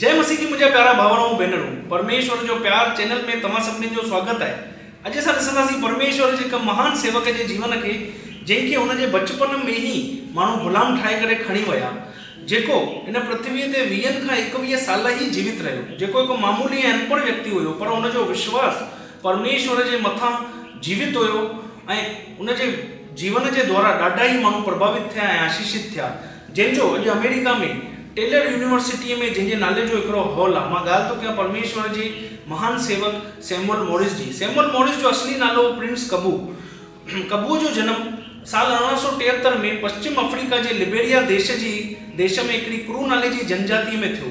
جي مسيح جي منهنجا پيارا ڀائر ۽ ڀينرون پرميشور جو پيار چينل ۾ توهان سڀني جو سواگت آهي اڄ اسان ڏسنداسين پرميشور جي هڪ مهان سيوڪ جي جيون کي جنهن کي هن جي بچپن ۾ ئي ماڻهو غلام ٺاهي ڪري کڻي ويا جيڪو هن پرٿوي تي ويهن کان ايڪويهه سال ئي جيوت رهيو جيڪو هڪ معمولي ۽ انپڙهه ويڪتي هيو پر هن جو وشواس پرميشور جي مٿان جيوت هيو ۽ هن جي جيون جي دوارا ڏاڍا ئي ماڻهو پرڀاوت ٿيا ۽ آشيشت ٿيا جنهن جو اڄ آمريڪا ۾ ٽيلر يونيورسٽيء ۾ جنهن جي نالي جو هڪڙو هال آ، مان ڳالهه ٿو ڪيان پرميشور جي مهان سيوڪ سيموئل موريس جي. سيموئل موريس جو اصلي نالو هو پرنس ڪبو. ڪبوء جو جنم سال ارڙهن سؤ ٽيهتر ۾ پشچم آفريڪا جي لبيريا ديش جي ديش ۾ هڪڙي ڪرو نالي جي جنجاتيء ۾ ٿيو.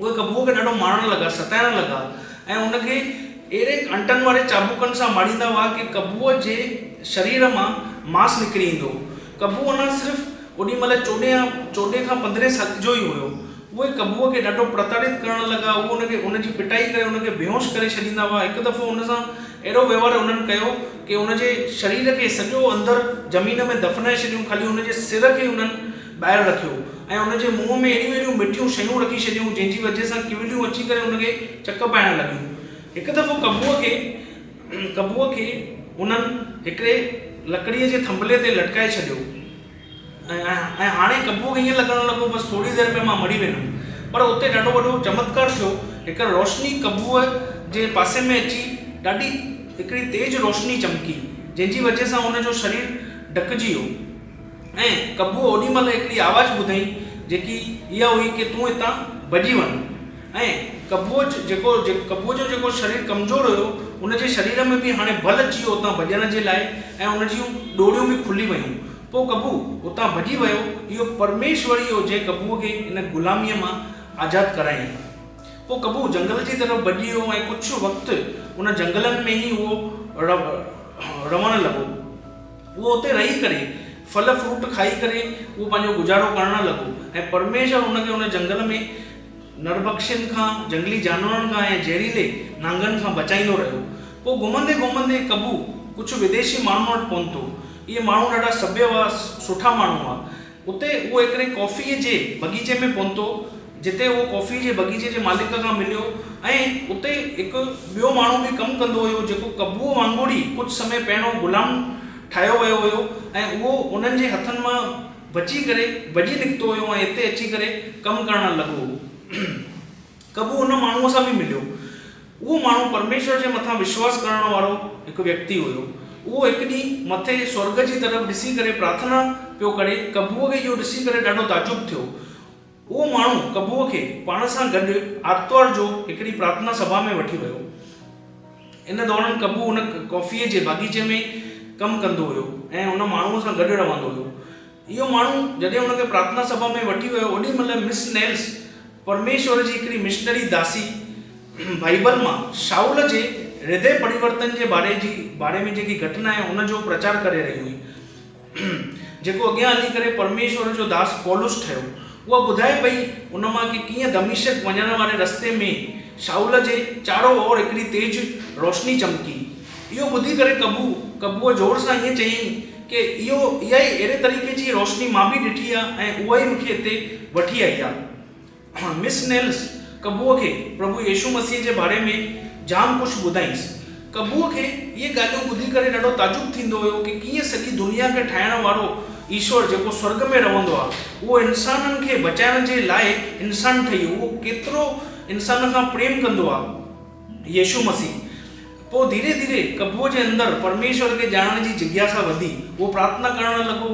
اهي ڪبوء کي ڏاڍو مارڻ لڳا، ستائڻ لڳا ۽ ان کي اهڙي ڪانٽن واري چاٻڪن سان ماريندا هئا ڪي ڪبوء جي شرير مان ماس نڪري ايندو هو. ڪبو اڃا صرف اوڏي مهل چوڏهين يا چوڏهين کان پندرهين سال جو ئي هيو. اهي ڪبوء کي ڏاڍو پرتاڙيت ڪرڻ لڳا. اهي ان کي ان جي پٽائي ڪري ان کي بيهوش ڪري ڇڏيندا هئا. هڪ دفعو ان سان اهڙو وهنوار انهن ڪيو ڪي ان جي شرير کي سڄو اندر زمين ۾ دفنائي ڇڏيو خالي ان جي سر کي انهن ٻاهر رکيو ۽ ان جي منهن ۾ اهڙيون اهڙيون مٺيون شيون رکي ڇڏيون جنهن جي وجهه سان ڪويليون اچي ڪري ان کي چڪ پائڻ لڳيون. هڪ دفعو ڪٻوء کي ڪٻوء کي انهن هڪڙي لڪڙيء جي ٿنڀلي تي لٽڪائي ڇڏيو ۽ هاڻي ڪٻوء کي ائين لڳڻ لڳو بس ٿوري دير ۾ مان مري ويندم پر اتي ڏاڍو وڏو چمتڪار ٿيو هڪڙي روشني ڪٻوء جي پاسي ۾ اچي ڏاڍي هڪڙي تيز روشني چمڪي جنهن جي وجهه سان ان جو شرير ڍڪجي ويو. ۽ قبوء اوڏي مهل هڪڙي آواز ٻڌائين جيڪي اها هئي ڪي تون هتان ڀڄي وڃ ۽ قبوء جيڪو قبوء جو جيڪو شرير ڪمزور هيو ان جي شرير ۾ به هاڻي بل اچي ويو اتان ڀڄڻ جي لاء ۽ ان جون ڏوريون به کلي ويون پوء قبوء اتان ڀڄي ويو اهو پرميشور ئي هو جنهن قبوء کي ان غلاميء مان آزاد ڪرايائين پوء قبوء جنگل جي طرف ڀڄي ويو ۽ ڪجهه وقت ان جنگلن ۾ ئي اهو رهڻ لڳو. اهو اتي رهي ڪري ڦل فروٽ کائي ڪري اهو پنهنجو گذارو ڪرڻ لڳو ۽ پرميشور ان کي ان جنگل ۾ نرڀڪشين کان، جنگلي جانورن کان ۽ زهريلي نانگن کان بچائيندو رهيو. پوء گهمندي گهمندي ڪبو ڪجهه وديشي ماڻهن وٽ پهتو. اهي ماڻهو ڏاڍا سڀيا هئا، سٺا ماڻهو هئا. اتي هو هڪڙي ڪافيء جي بغيچي ۾ پهتو، جتي هو ڪافيء جي بغيچي جي مالڪ کان مليو ۽ اتي هڪ ٻيو ماڻهو به ڪم ڪندو هيو، جيڪو قبوء وانگر ئي ڪجهه سمي پهريون غلام ٺاهيو ويو هيو ۽ اهو انهن جي هٿن مان بچي ڪري ڀڄي نڪتو هيو ۽ هتي اچي ڪري ڪم ڪرڻ لڳو هو. ڪبو ان ماڻهوء سان به مليو. اهو ماڻهو پرميشور جي مٿان وشواس ڪرڻ وارو هڪ ويڪتي هيو. اهو هڪ ڏينهن مٿي سورڳ جي طرف ڏسي ڪري پرارٿنا پيو ڪري. ڪبوء کي اهو ڏسي ڪري ڏاڍو تعجب ٿيو. اهو ماڻهو ڪبوء کي پاڻ سان گڏ آرتوار جو هڪڙي پرارٿنا سڀا ۾ وٺي ويو. ان دوران ڪبو ان ڪافيء جي باغيچي ۾ ڪم ڪندو هيو ۽ ان ماڻهوء سان گڏ رهندو هيو. اهو ماڻهو جڏهن هن کي پرارٿنا سڀا ۾ وٺي ويو اوڏي مهل مس نيلس، پرميشور جي هڪڙي مشنري داسي بائيبل مان شائول جي هردي پريورتن جي باري جي باري ۾ جيڪي گهٽنا آهي ان جو پرچار ڪري رهي هئي جيڪو اڳيان هلي ڪري پرميشور جو داس پولس ٺهيو اها ٻڌائي پئي ان مان ڪي ڪيئن دمشق وڃڻ واري رستي ۾ شائول جي چارو اور هڪڙي تيز روشني چمڪي اهو ٻڌي ڪري قبو، قبوء زور سان ائين چيائين ڪي اهو، اها ئي اهڙي طريقي جي روشني مان به ڏٺي آ ۽ اها ئي مون کي هتي وٺي آئي آ. مس نيلس قبوء کي پرڀو يسوع مسيح جي باري ۾ جام ڪجهه ٻڌائينس. قبوء کي اهي ڳالهيون ٻڌي ڪري ڏاڍو تعجب ٿيندو هيو ڪي ڪيئن سڄي دنيا کي ٺاهڻ وارو ايشور جيڪو سورڳ ۾ رهندو آ، اهو انسانن کي بچائڻ جي لاء انسان ٺهي اهو ڪيترو انسانن کان پريم ڪندو آ. يسوع مسيح. پوء ڌيري ڌيري قبوء جي اندر پرميشور کي ڄاڻڻ جي جگياسا وڌي. هو پرارٿنا ڪرڻ لڳو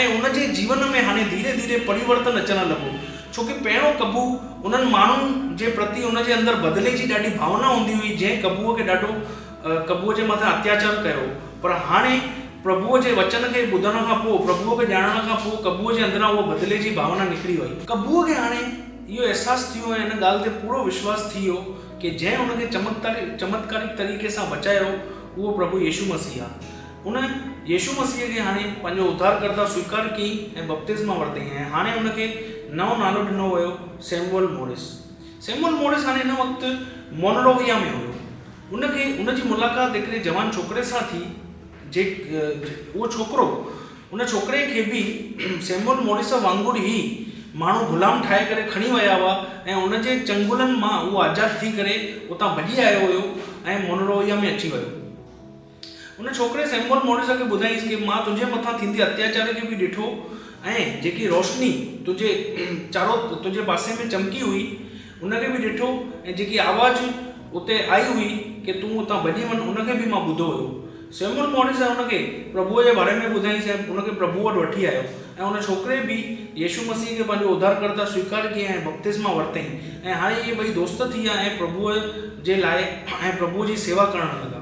۽ ان جي جيون ۾ هاڻي ڌيري ڌيري پريورتن اچڻ لڳو. ڇو ڪي پهريون قبو انهن ماڻهن جي پرتي ان جي اندر بدلي جي ڏاڍي ڀاونا هوندي هئي جنهن قبوء کي ڏاڍو قبوء جي مٿان اتياچار ڪيو هو پر هاڻي پرڀوء جي وچن کي ٻڌڻ کان پوء پرڀوء کي ڄاڻڻ کان پوء قبوء جي اندران اها بدلي جي ڀاونا نڪري وئي. قبوء کي هاڻي اهو احساس ٿيو ۽ ان ڳالهه تي پورو وشواس ٿي ويو ڪي جنهن ان کي چمتڪاريڪ طريقي سان بچايو اهو پرڀو يسوع مسيح آ. ان يسوع مسيح کي هاڻي پنهنجو اڌارڪرتا سويڪار ڪيئي ۽ بپتسما ورتئي ۽ هاڻي ان کي نئون نالو ڏنو ويو سيموئل موريس. سيموئل موريس هاڻي ان وقت مونروويا ۾ هيو. ان کي ان جي ملاقات هڪڙي جوان ڇوڪري سان ٿي. جي اهو ڇوڪرو ان ڇوڪري کي به سيموئل موريس وانگر ئي ماڻهو غلام ٺاهي ڪري کڻي ويا هئا ۽ ان جي چنگلن مان اهو آزاد ٿي ڪري اتان ڀڄي آيو هيو ۽ مونروويا ۾ اچي ويو. ان ڇوڪري سيموئل موريس کي ٻڌايائينس ڪي مان تنهنجي مٿان ٿيندي اتياچار کي به ڏٺو ۽ جيڪي روشني تنهنجي چارو تنهنجي پاسي ۾ چمڪي هئي ان کي به ڏٺو ۽ جيڪي آواز اتي آئي هئي ڪي تون اتان ڀڄي وڃ ان کي به مان ٻڌو هيو. سيموئل موريس ۽ ان کي پرڀوء جي باري ۾ ٻڌائينس ۽ ان کي پرڀوء وٽ وٺي آيو ۽ ان ڇوڪري به يسوع مسيح کي پنهنجو اڌارڪرتا سويڪار ڪيائين ۽ بپتسما ورتائين ۽ هاڻي اهي ٻئي دوست ٿي ويا ۽ پرڀوء جي لاء ۽ پرڀوء جي سيوا ڪرڻ لڳا.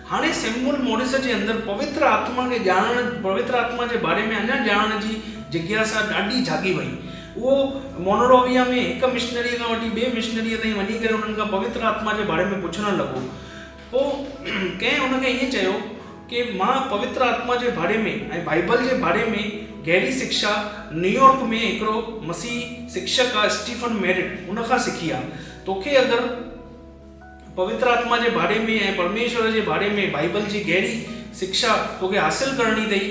هاڻي سيموئل موريس جي اندر پوتر آتما کي ڄاڻڻ، پوتر آتما جي باري ۾ اڃا ڄاڻڻ جي جگياسا ڏاڍي جاڳي وئي. اهو مونروويا ۾ هڪ مشنريء کان وٺي ٻئي مشنريء تائين وڃي ڪري انهن کان پوتر آتما جي باري ۾ پڇڻ لڳو. پوء ڪنهن ان کي ائين چيو ڪي مان پوتر آتما جي باري ۾ ۽ بائيبل جي باري ۾ گهري سکشا نيويارڪ ۾ هڪڙو مسيحي سکشڪ آ اسٽيفن ميرٽ ان کان سکي آ. توکي اگر. پوتر آتما جي باري ۾ ۽ پرميشور جي باري ۾ بائيبل جي گهري سکشا توکي حاصل ڪرڻي اٿئي.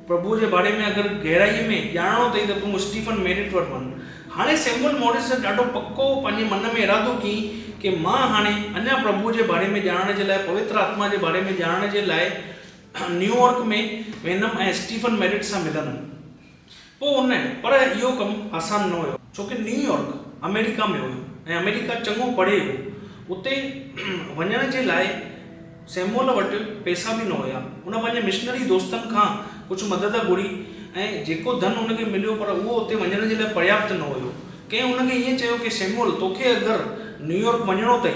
پرڀوء جي باري ۾ اگر گهرائيء ۾ ڄاڻڻو اٿئي ته تون اسٽيفن ميرٽ وٽ وڃ. هاڻي سيموئل موريس ڏاڍو پڪو پنهنجي من ۾ ارادو ڪيئي ڪي مان هاڻي اڃا پرڀوء جي باري ۾ ڄاڻڻ جي لاء پوتر آتما جي باري ۾ ڄاڻڻ جي لاء نيوئارڪ ۾ ويندم ۽ اسٽيفن ميرٽ سان ملندم. پوء ان پر اهو ڪم آسان نه هيو، ڇو ڪه نيويارڪ آمريڪا ۾ هيو ۽ آمريڪا چڱو پري هو، اتي وڃڻ جي لاء سيموئل وٽ پئسا به نه هيا، هن پنهنجي مشنري دوستن کان ڪجهه مدد گهري ۽ جيڪو ڌن هن کي مليو پر اهو اتي وڃڻ جي لاء پرياپت نه هيو، ڪنهن هن کي ائين چيو ڪه سيموئل توکي اگر نيويارڪ وڃڻو اٿئي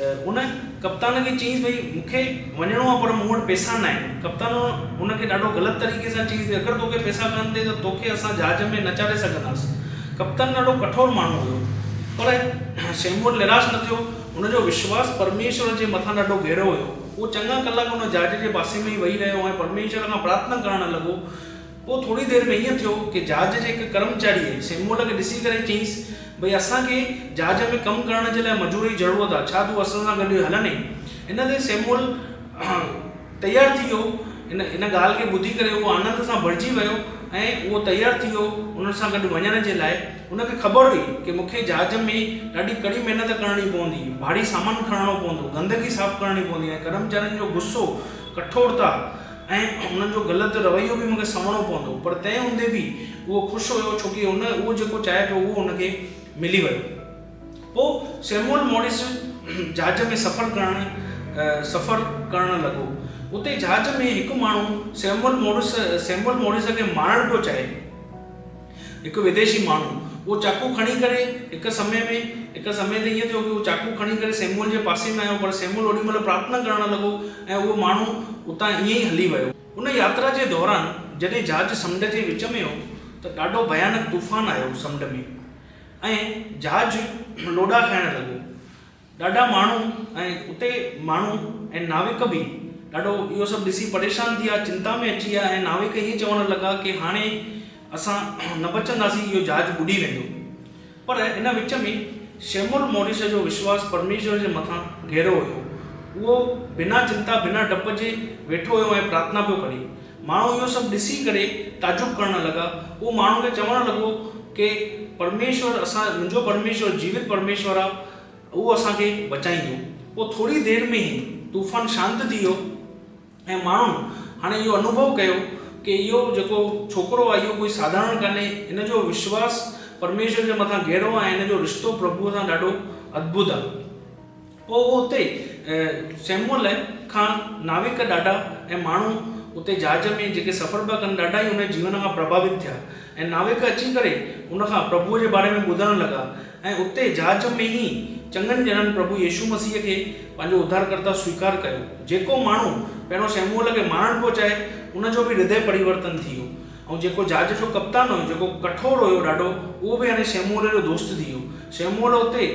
ان ڪپتان کي چيائينس ڀئي مون کي وڃڻو آهي پر مون وٽ پئسا نه آهن. ڪپتان ان کي ڏاڍو غلط طريقي سان چيائينس ته اگر توکي پئسا ڪانه اٿئي ته توکي اسان جهاز ۾ نه چاڙهي سگهنداس. ڪپتان ڏاڍو ڪٺور ماڻهو هيو پر سيموئل نراش نه ٿيو. هن جو وشواس پرميشور جي مٿان ڏاڍو گهرو هيو. هو چڱا ڪلاڪ ان جهاز جي پاسي ۾ ئي ويهي رهيو ۽ پرميشور کان پرارٿنا ڪرڻ لڳو پوء ٿوري دير ۾ ائين ٿيو ڪي جھاز جي هڪ ڪرمچاريء سيموئل کي ڏسي ڪري چيس، ڀئي اسان کي جھاز ۾ ڪم ڪرڻ جي لاء مزور جي ضرورت آ، ڇا تون اسان سان گڏ هلندين؟ ان تي سيموئل تيار ٿي ويو. ان ڳالهه کي ٻڌي ڪري هو آنند سان ڀرجي ويو ۽ اهو تيار ٿي ويو انهن سان گڏ وڃڻ جي لاء. هن کي خبر هئي ڪي مون کي جھاز ۾ ڏاڍي ڪڙي محنت ڪرڻي پوندي، ڀاري سامان کڻڻو پوندو، گندگي صاف ڪرڻي پوندي ۽ ڪرمچارين جو غصو، ڪٺورتا، ۽ انهن جو غلط رويو به مونکي سهڻو پوندو پر تنهن هوندي به اهو خوش هيو ڇو ڪي هن اهو جيڪو چاهي پيو اهو هن کي ملي ويو. پوء سيموئل موريس جهاز ۾ سفر ڪرڻ سفر ڪرڻ لڳو. اتي جهاز ۾ هڪ ماڻهو سيموئل موريس سيموئل موريس کي مارڻ پيو چاهي. هڪ وديشي ماڻهو اهو چاقو کڻي ڪري هڪ سمي ۾ هڪ سمي تي ائين ٿيو ڪي اهو چاقو کڻي ڪري سيموئل جي پاسي ۾ آيو پر سيموئل اوڏي مهل پرارٿنا ڪرڻ لڳو ۽ اهو ماڻهو اتان ائين ئي هلي ويو. ان ياترا جي دوران جڏهن جهاز سمنڊ جي وچ ۾ هو ته ڏاڍو ڀيانڪ طوفان آيو سمنڊ ۾ ۽ جهاز لوڏا کائڻ لڳو ڏاڍا ماڻهو ۽ اتي ماڻهو ۽ ناوڪ به ڏاڍو اهو سڀ ڏسي پريشان ٿي ويا، چنتا ۾ اچي ويا ۽ ناوڪ هيء چوڻ لڳا ڪي هاڻي اسان نه بچنداسين، اهو جهاز ٻڏي ويندو. پر ان وچ ۾ شيمول موريس جو وشواس پرميشور جي مٿان گهرو هيو. اهو بنا چنتا بنا ڊپ جي ويٺو هيو ۽ پرارٿنا پيو ڪري. ماڻهو اهو سڀ ڏسي ڪري تعجب ڪرڻ لڳا. هو ماڻهن کي چوڻ لڳو ڪي پرميشور اسان منهنجو پرميشور جيوت پرميشور آ اهو اسان کي بچائيندو. پوء ٿوري دير ۾ ئي طوفان شانت ٿي ويو ۽ ماڻهن هاڻي اهو انوڀو ڪيو ڪي اهو جيڪو ڇوڪرو آ اهو ڪوئي ساڌارڻ ڪانهي هن جو وشواس پرميشور جي مٿان گهرو آ ۽ هن جو رشتو پرڀوء سان ڏاڍو اڌڀت آ. پوء اتي سيموئل کان ناوڪ ڏاڍا ۽ ماڻهو اتي جهاز ۾ جيڪي سفر پيا ڪن ڏاڍا ئي ان جي جيون کان پرڀاوت ٿيا ۽ ناوڪ اچي ڪري ان کان پرڀوء جي باري ۾ ٻڌڻ لڳا ۽ اتي جهاز ۾ ئي چڱن ڄڻن پرڀو يسوع مسيح کي پنهنجو اڌارڪرتا سويڪار ڪيو جيڪو ماڻهو پهريون سيموئل کي مارڻ پيو چاهي ان جو به هردئه پريورتن ٿي ويو ۽ جيڪو جھاز جو ڪپتان ھيو جيڪو ڪٺور ھيو ڏاڍو اھو به ھاڻي سيموئيل جو دوست ٿي ويو سيموئيل اتي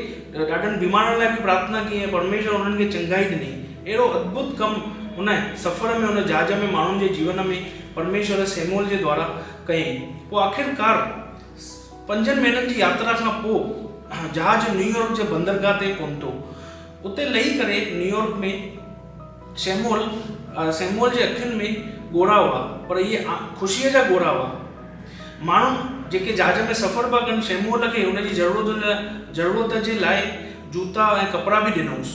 ڏاڍن بيمارن لاء به پرارٿنا ڪئي ۽ پرميشور ھنن کي چڱائي ڏني اھڙو ادڀت ڪم ھن سفر ۾ ھن جھاز ۾ ماڻھن جي جيون ۾ پرميشور سيموئيل جي دوارا ڪيائين پوء آخرڪار پنجن مھينن جي ياترا کان پوء جھاز نيويارڪ جي بندرگاھ تي پھتو اتي لھي ڪري نيويارڪ ۾ سيموئل، Samuel، جي اکين ۾ ڳوڙها هئا، پر اهي خوشيء جا ڳوڙها هئا. ماڻهو جيڪي جهاز ۾ سفر پيا ڪن، سيموئل کي هن جي ضرورت جي لاء جوتا ۽ ڪپڙا به ڏنائونس.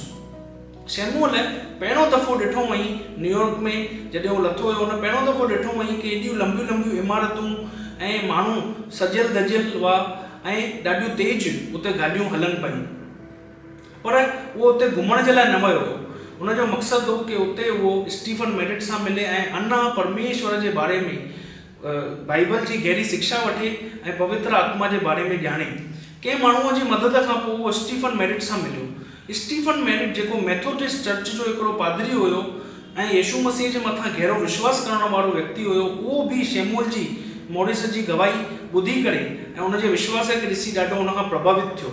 سيموئل پهريون دفعو ڏٺو هئائين نيويارڪ ۾ جڏهن هو لٿو هيو، هن پهريون دفعو ڏٺو هئائين ڪي ايڏيون لنبيون لنبيون عمارتون ۽ ماڻهو سجيل ڌجيل هئا ۽ ڏاڍيون تيز اتي گاڏيون هلن پيون. پر اهو اتي گهمڻ جي لاء نه ويو هو. هن جو مقصد هو ڪي اتي اهو اسٽيفن ميڊٽ سان ملي ۽ انا پرميشور جي باري ۾ بائيبل جي گهري سکشا وٺي ۽ پوتر آتما جي باري ۾ ڄاڻي. ڪنهن ماڻهوء جي مدد کان پوء اهو اسٽيفن ميڊٽ سان مليو. اسٽيفن ميڊٽ جيڪو ميٿوڊسٽ چرچ جو هڪڙو پادري هيو ۽ يسوع مسيح جي مٿان گهرو وشواس ڪرڻ وارو ويڪتي هيو اهو به شيمول جي موريس جي گواهي ٻڌي ڪري ۽ ان جي وشواس کي ڏسي ڏاڍو ان کان پرڀاوت ٿيو.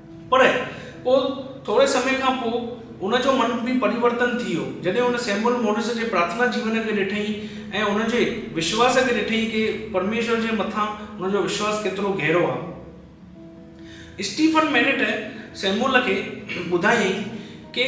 پر پوء ٿوري سمي کان پوء هن جو من به پريورتن ٿي ويو، جڏهن هن سيموئل موريس جي پرارٿنا جيون کي ڏٺئي ۽ هن جي وشواس کي ڏٺئي ڪي پرميشور جي مٿان هن جو وشواس ڪيترو گهرو آهي. اسٽيفن مينيٽ سيموئل کي ٻڌايائين ڪي.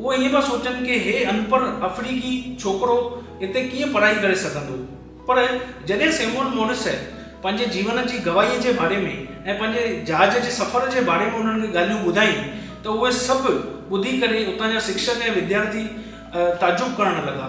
هو ائين پيا سوچن ڪي هي انپڙهه افريڪي ڇوڪرو اتي ڪيئن پڙهائي ڪري سگهندو. پر جڏهن سيموئل موريسء پنهنجي جيون جي گواهيء جي باري ۾ ۽ پنهنجي جهاز جي سفر جي باري ۾ انهن کي ڳالهيون ٻڌائين ته اهي سڀ ٻڌي ڪري اتان جا سکشڪ ۽ وديارٿي تعجب ڪرڻ لڳا.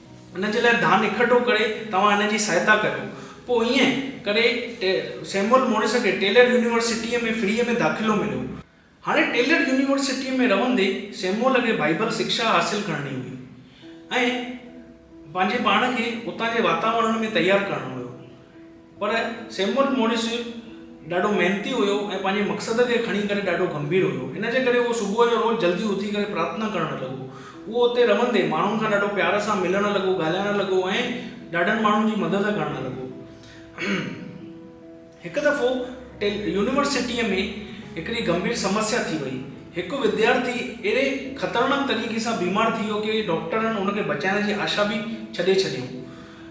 ان جي لاء ڌان اڪٺو ڪري توهان هن جي سهائتا ڪريو. پوء ائين ڪري سيموئل موريس کي ٽيلر يونيورسٽيء ۾ فريء ۾ داخلو مليو. هاڻي ٽيلر يونيورسٽيء ۾ رهندي سيموئل کي بائيبل سکشا حاصل ڪرڻي هئي ۽ پنهنجي پاڻ کي اتان جي واتاورڻ ۾ تيار ڪرڻو هيو. پر سيموئل موريس ڏاڍو محنتي هيو ۽ پنهنجي مقصد کي کڻي ڪري ڏاڍو گنڀير هيو. ان جي ڪري هو صبح جو روز جلدي اٿي ڪري پرارٿنا ڪرڻ لڳو. اهو اتي رهندي ماڻهن کان ڏاڍو پيار سان ملڻ لڳو، ڳالهائڻ لڳو ۽ ڏاڍن ماڻهن جي مدد ڪرڻ لڳو. هڪ دفعو يونيورسٽيء ۾ هڪڙي گنڀير سمسيا ٿي وئي. هڪ وديارٿي اهڙي خطرناڪ طريقي سان بيمار ٿي ويو ڪي ڊاڪٽرن ان کي بچائڻ جي آشا به ڇڏي ڇڏيائون.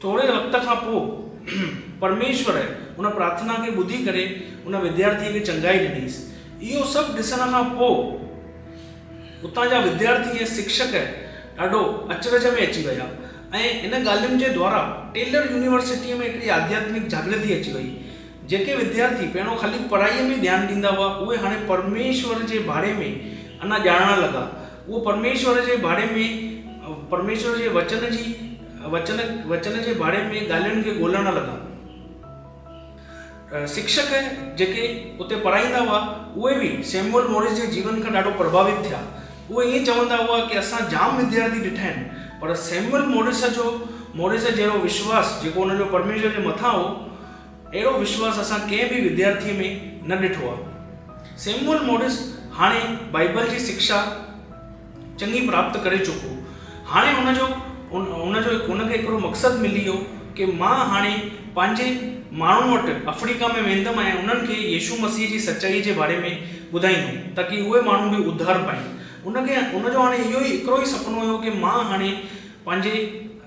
ٿوري وقت کان پوء پرميشور ان پرارٿنا کي ٻڌي ڪري ان وديارٿيء کي چڱائي ڏنيس. اهو سڀ ڏسڻ کان پوء اتان جا وديارٿي ۽ سکشڪ ڏاڍو اچرج ۾ اچي ويا ۽ ان ڳالهين جي دوارا ٽيلر يونيورسٽيء ۾ هڪڙي آڌياتمڪ جاڳرتي اچي ويئي. جيڪي وديارٿي پهريون خالي پڙهائيء ۾ ئي ڌيان ڏيندا هئا، اهي هاڻي پرميشور جي ڀاڙي ۾ انا ڄاڻڻ لڳا. اهو پرميشور جي ڀاڙي ۾ پرميشور جي وچن جي وچن وچن جي ڀاڙي ۾ ڳالهين کي ڳولڻ لڳا. شڪشڪ جيڪي اتي پڙهائيندا هئا، اهي به سيموئل موريس جي جيون کان ڏاڍو پرڀاوت ٿيا. اهي ائين چوندا هئا ڪي اسان جام وديارٿي ڏٺا آهن، پر سيموئل موريس جو موريس جهڙو وشواس جيڪو ان جو پرميشور جي مٿان هو، اهڙو وشواس اسان ڪنهن به وديارٿيء ۾ نه ڏٺو آهي. سيموئل موريس هاڻي بائيبل جي شڪشا، چڱي پراپت ڪري چڪو هاڻي ان جو ان جو ان کي هڪڙو مقصد ملي ويو ڪي مان هاڻي پنهنجي ماڻهن وٽ افريڪا ۾ ويندم ۽ انهن کي يسوع مسيح جي سچائي جي باري ۾ ٻڌائيندم تاڪي اهي ماڻهو به اڌار پائين ان کي ان جو هاڻي اهو ئي هڪڙو ئي سپنو هيو ڪي مان هاڻي پنهنجي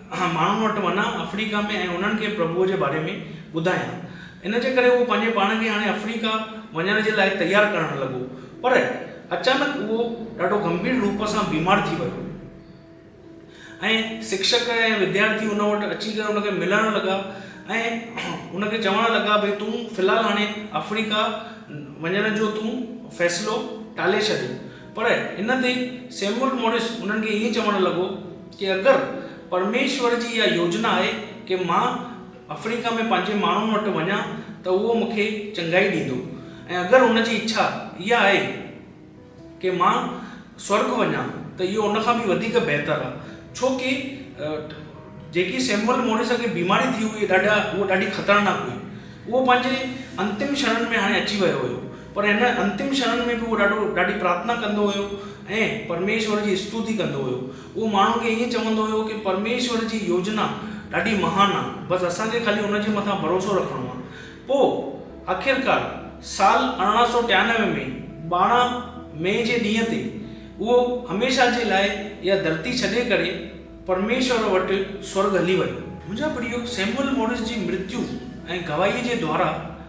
ماڻهن وٽ وڃان آفريڪا ۾ ۽ انهن کي پرڀوء جي باري ۾ ٻڌايان. ان جي ڪري هو پنهنجي پاڻ کي هاڻي آفريڪا وڃڻ جي لاء تيار ڪرڻ لڳو. پر اچانڪ اهو ڏاڍو گنڀير روپ سان بيمار ٿي ويو ۽ سکشڪ ۽ وديارٿي ان وٽ اچي ڪري ان کي ملڻ لڳا ۽ ان کي چوڻ لڳا ڀئي تون في الحال هاڻي آفريڪا وڃڻ جو تون فيصلو ٽالي ڇڏ. پر ان تي سيموئل موريس انهن کي ائين چوڻ لڳو ڪي اگر پرميشور جي اها يوجنا آهي ڪي مان آفريڪا ۾ پنهنجي ماڻهن وٽ وڃان ته اهو مون کي چڱائي ڏيندو ۽ اگر هن جي اڇا اها آهي ڪي مان سورڳ وڃان ته اهو ان کان به وڌيڪ بهتر آهي ڇو ڪي جيڪي سيموئل موريس کي بيماري ٿي هئي ڏاڍا اهو ڏاڍي خطرناڪ هئي اهو پنهنجي انتم شڻن ۾ هاڻي اچي ويو هيو پر هن انتم ڇهن ۾ به هو ڏاڍو ڏاڍي پرارٿنا ڪندو هيو ۽ پرميشور جي استوتي ڪندو هيو. اهو ماڻهن کي ائين چوندو هيو ڪه پرميشور جي يوجنا ڏاڍي مهان آ، بس اسان کي خالي ان جي مٿان ڀروسو رکڻو آ. پوء آخرڪار سال ارڙهن سؤ ٽيانوي ۾ ٻارهن مئي جي ڏينهن تي اهو هميشه جي لاء اها ڌرتي ڇڏي ڪري پرميشور وٽ سورڳ هلي ويو. منهنجا پريو سيموئل موريس جي مرتيو ۽ گواهيء جي دوارا،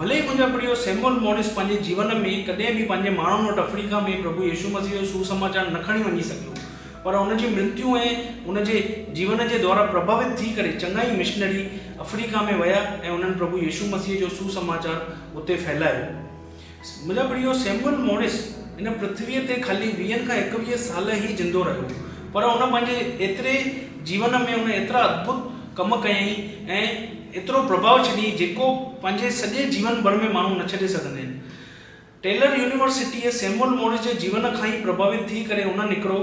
ڀلي ئي منهنجا پڙهيو سيموئل موريس پنهنجي جيون ۾ ڪڏهن به پنهنجي ماڻهن وٽ افريڪا ۾ پرڀو يسوع مسيح جو سوسماچار نه کڻي وڃي سگهيو پر هن جي مرتيو ۽ هن جي جيون جي دوارا پرڀاوت ٿي ڪري چڱا ئي مشنري افريڪا ۾ ويا ۽ انهن پرڀو يسوع مسيح جو سوسماچار اتي ڦهلايو. منهنجا پڙهيو سيموئل موريس هن پرٿويء تي خالي ويهن کان ايڪويهه سال ئي زندو رهيو پر هن پنهنجي ايتري جيون ۾ هن ايترا اڌڀت ڪم ڪيائين ۽ ايترو پرڀاء ڇڏي جيڪو پنهنجي سڄي جيون ڀر ۾ ماڻهو نه ڇڏي سگهندا آهن. ٽيلر يونيورسٽيء سيموئل مورس جي جيون کان ئي پرڀاوت ٿي ڪري هن هڪڙو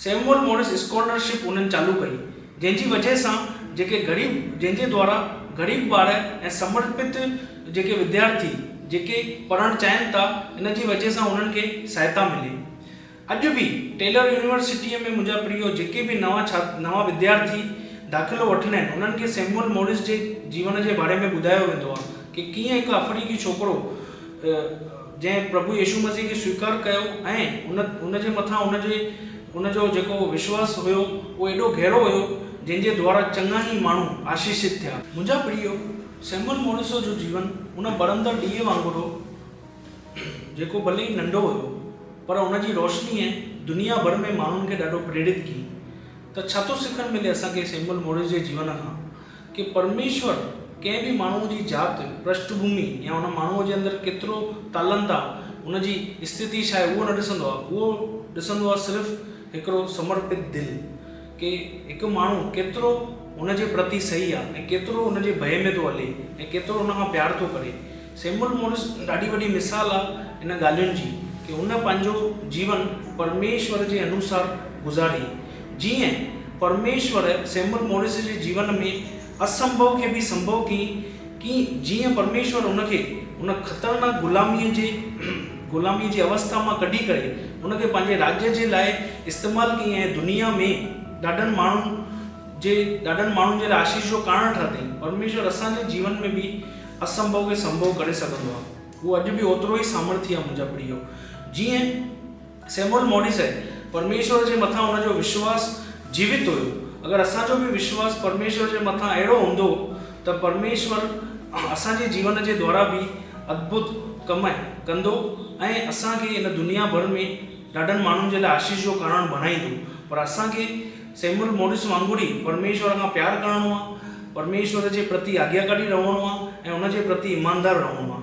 سيموئل مورس اسڪولر شپ انهن چالو ڪئي، جنهن جي وجهه سان جيڪي غريب جنهن جي دوارا غريب ٻار ۽ سمرپت جيڪي وديارٿي جيڪي پڙهڻ چاهين ٿا ان جي وجهه سان انهن کي سهائتا ملي. اڄ به ٽيلر يونيورسٽيء ۾ منهنجا پريو جيڪي به نوان ڇا نوان وديارٿي داخلو وٺندا آهن، انهن کي سيموئل موريس جي جيون جي باري ۾ ٻڌايو ويندو آهي ته ڪيئن هڪ آفريڪي ڇوڪرو جنهن پرڀو يسوع مسيح کي سويڪار ڪيو ۽ ان ان جي مٿان ان جي ان جو جيڪو وشواس هيو اهو ايڏو گهرو هيو جنهن جي دوارا چڱا ئي ماڻهو آشيشت ٿيا. منهنجا پريو، سيموئل موريس جو جيون ان ٻرندڙ ڏيئي وانگر هو، جيڪو ڀلي ئي ننڍو هيو پر ان جي روشنيء دنيا ڀر ۾ ماڻهن کي ڏاڍو پريڙت ڪي ته ڇا ٿو سکڻ ملي اسان کي سيموئل موريس جي جيون کان ڪي پرميشور ڪنهن به ماڻهوء جي ذات، پرشٺ ڀومي يا ان ماڻهوء جي اندر ڪيترو تالنت آ، ان جي استھتي ڇا آهي اهو نه ڏسندو آ، اهو ڏسندو آ صرف هڪڙو سمرپت دل ڪي هڪ ماڻهو ڪيترو ان جي پرتي سهي آ ۽ ڪيترو ان جي ڀئي ۾ ٿو هلي ۽ ڪيترو ان کان پيار ٿو ڪري. سيمول مورس ڏاڍي وڏي مثال آ ان ڳالهين جي ڪي هن پنهنجو جيون پرميشور جي انوسار گذاري. جيئن پرميشور سيمول مورس جي جيون ۾ اسنڀو کي به سنڀو ڪيئي ڪي جيئن پرميشور هن کي ان خطرناڪ غلاميء جي غلاميء جي اوسٿا مان ڪڍي ڪري ان کي پنهنجي راڄ جي لاء استعمال ڪيئي ۽ دنيا ۾ ڏاڍن ماڻهن جي ڏاڍن ماڻهن جي لاء آشيس جو ڪارڻ ٺاهتائين. پرميشور اسان جي جيون ۾ به اسنڀو کي سنڀو ڪري سگهندو آهي. هو اڄ به اوترو ئي سامرٿي آهي منهنجا پريو. جيئن. سيموئل موريسئي، پرميشور جي مٿان هن جو وشواس جيوت هيو. اگر اسان جو به وشواس پرميشور جي مٿان اهڙو هوندو ته پرميشور اسان جي جيون جي دوارا به ادڀت ڪم ڪندو ۽ اسان کي هن دنيا ڀر ۾ ڏاڍن ماڻهن جي لاء آشيس جو ڪارڻ بڻائيندو. پر اسان کي سيموئل موريس وانگر ئي پرميشور کان پيار ڪرڻو آهي، پرميشور جي پرتي آجياڪاري رهڻو آهي ۽ هن جي پرتي ايماندار رهڻو آهي.